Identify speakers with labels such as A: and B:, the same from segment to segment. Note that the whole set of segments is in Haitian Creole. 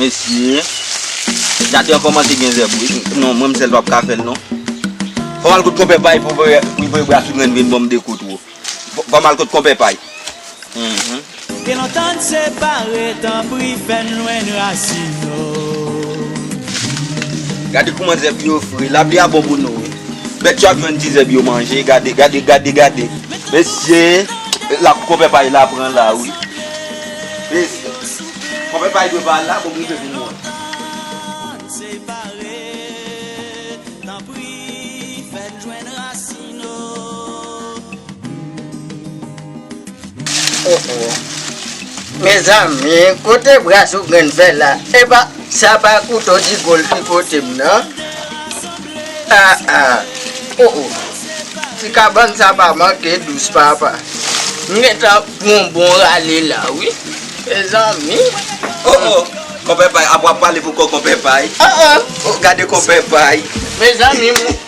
A: Mesye Jade an komanse gen zèb wi Non mwen m sèl pap ka fèl non Fòm al kot konpè pay pou m voye bwa sougrenn vin banm de kout wou Fòm al kot konpè pay
B: Ke lontan n separe tanpri fè n lwenn rasin nou
A: Gade kouman zèb yo fre Lapli a bon pou nou wi Bèt yo ap jwenn ti zèb yo manje gade gade gade gade mesye la konpè pay la pran la wi mesye konpè pay dwe pa la pou m rive vin wè.
C: Oh oh Mezanmi kote bra sou grenn fè la epa sa pa kouto digo l ki pote m nan Ah ah Oh oh ti kabann sa pa manke dous papa m gentan pran yon bon rale la wi Mezanmi Oh oh
A: Konpè Pay ap wap pale pou kò Konpè Pay Oh oh Gade Konpè Pay Mezanmi m.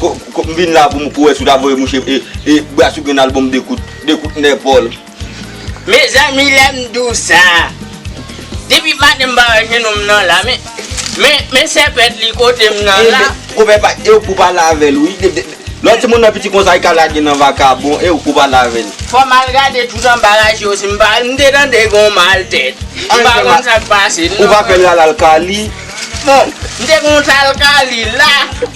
A: M vin la pou m wè si w ta voye mouche e Brassou gen yon album 2 kout, 2 kout nè Paul.
C: Mezanmi lèm diw sa Depi maten m pa wè jenou m nan la Men men sèpèt li kotem nan la. Konpè pa ew pou
A: pale avèl wi Lè timoun nan piti konsa li ka lage nan vakabon ew pou pale avèl. Fòm al gade
C: tout anba raje yo si m pa m te tande gon mal tèt m pa konn sak pase non. Ou pa fèl lala al
A: kali. Bon
C: m te konn tal kali la.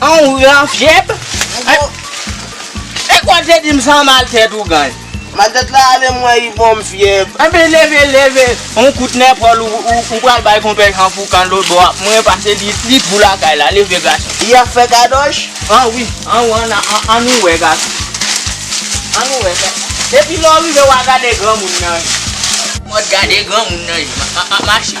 B: An ou gen
C: fyèb? E kon te dim san mal tèt ou gany. Mal tèt la ale
B: mwen i bonm fyèb. Anben leve
C: leve yon kout nèpòl ou pral bay konpè Jan Foukan lotbò a mwen pase li twou lakay la leve gason. Li ap fè kadosh?
B: An wi an
C: ou an an nou wè gason. An nou wè fè epi lè ou rive wa gade granmoun nan. Mòd gade granmoun nan ye mache.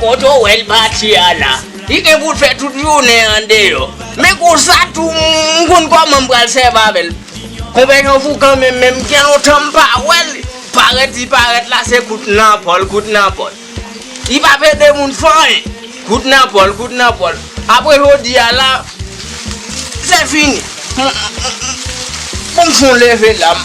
C: Kote w wè l pati a la? Li gen pou l fè tout jounen an deyò. Men konsa tou m konn kòman m pral sèvi avè l. Konpè Jan Foukan menm, men m gen lontan m pa wè l, parèt li parèt la se kout nan pòl, kout nan pòl. Li pa p ede moun fè anyen. Kout nan pòl, kout nan pòl. Apre jodi a la, se fini. Pou m fon leve la m.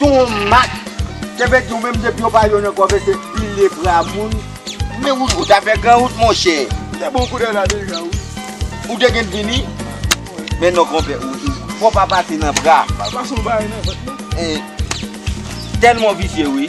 A: Ton Mak, kenbe di ou menm depi yo pa jwenn ankò vè se pile bra moun. Men ou ta fè gran wout monchè. Ou te bon koulè la
C: deja wi. Ou te gen
A: vini? Men non konpè ou tou. Fò pa pase nan bra. Pal pase yon bagay nan vant
C: non.
A: Tèlman w visye wi.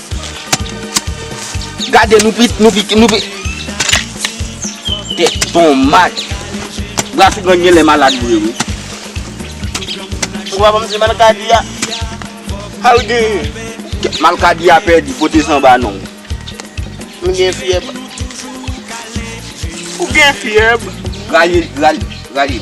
A: Gade nou pit nou pit nou pit Tèt bon mak Bra sou gang genlè malad vre wi
C: Ou pa banm di malkadi a Sal genyen Malkadi a
A: pèdi pote sanba non M
C: gen fyèb Ou gen fyèb Rale
A: rale rale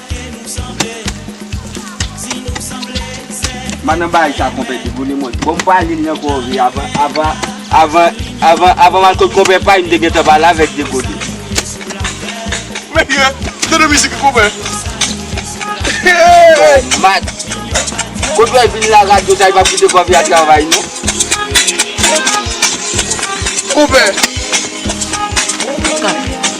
A: Mba nan bagay sa konpè di bone mwen bon mpa li nan kòve avan avan avan avan avan mal kot konpè pay mte gentan pale avèk de gode.
C: Men ki ret, tande mizik li konpè. Bon
A: mat. Kot wè vin la radyo sa li pap kite kòve a travay non.
C: Konpè.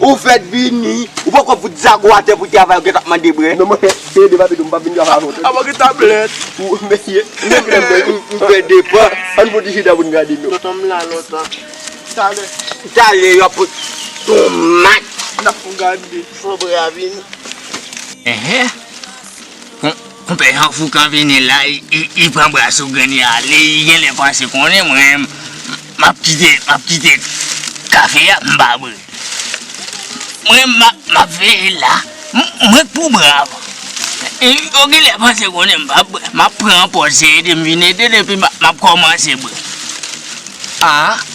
A: Ou fèt vini, ou poko fout zago atè pou travay ou gentan ap mande brè. Non mwen peye dev abido
D: m pap vin travay avè w tande. Apa gen tablèt.
A: Ou mèye.
D: Ou fè depan. Ann pote chita pou n gade nou. Tonton m la lontan.
A: Talè. Talè yo ap pote tomat. N ap gade. Fo brè a vini. Enhen.
C: Konpè yon fou kan vini la li pran bra sou grenn li ale li genlè panse konnen mwen map kite map kite kafe ya m pa bri mwen map veye l la mwen k pou bri avan yo genlè panse konnen m pap bri map pran pòz se ede m vin ede l epi map kòmanse bri aa.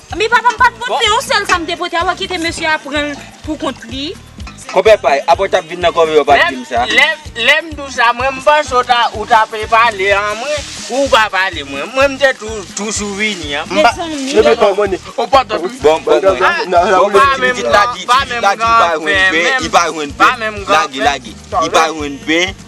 D: Men papa m
E: pat pot men yon sèl sa m te pote apa kite mesye a pranl pou kont li. Konpè pay,
A: apre w tap vin nan kòve yo pat dim sa. Lè m di w sa
C: mwen m panse ou ta pe pale an mwen ou pa pale mwen. Mwen m te toujou vini an. Ou pa
D: tande wi. Bon bon
C: bon. Pitit la di li pa jwenn pen. Li pa jwenn pen.
A: Lage lage. Li pa jwenn pen.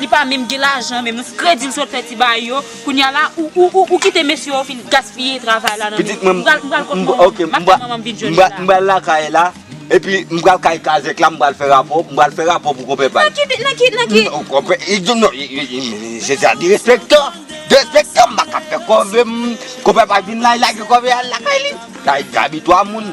E: Li pa menm gen lajan menm non. Kredi ou sot fè ti baay yo, kounya la ou kite mesye yo fin gaspiye travay la nan men ou. M pral kot manman m. M ap
A: tann manman m vin jwenn Jina. M pral lakay la, epi m pral kay kazèk la m pral fè rapò, m pral fè rapò pou konpè pal. Nan ki,
E: nan ki? Konpè,
A: se sa derespektò, derespektò m pa ka fè kòve m. Konpè pal vin la, li lage kòve al lakay li. Kay Gaby 3 moun.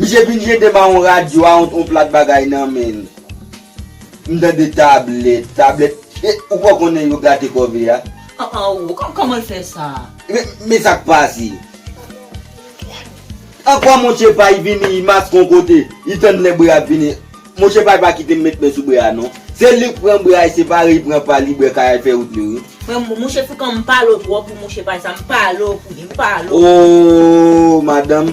A: Misye vin jete ba on radyo a on plat bagay nan menn. M tande tablèt, tablèt e ou pa konnen yo gate kòve a? An an ou kòman
E: l fè sa? Men sa k
A: pase. Ankò Monche Pay vini i maske on kote, i tann lè bre a ap vini. Monche Pay pa kite m met men sou bre a non. Se li k pran bre a e separe i pran pa li bre kay a l fè wout li wi. Men Monche Foukan
E: m pale w twòp pou Monche Pay sa, m pale w pou li, m pale w. Oo
A: madanm.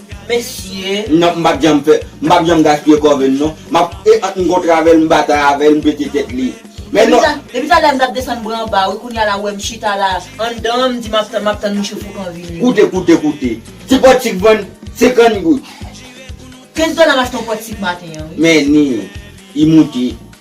A: Mesye.
E: Non m pap janm fè
A: m pap janm gaspiye kòve m non m ap e ant m kontre avè l m batay avè l m pete tèt li men non. Depi talè a m t ap desann
F: bra anba wi kounya la ou wè m chita la anndan an m di m ap tann m ap tann mouche foukan an vini wi. Koute koute koute ti
A: pòt sik vann 50 goud. 15
F: dola m achte yon pòt sik maten an wi. Men ni.
A: I moute.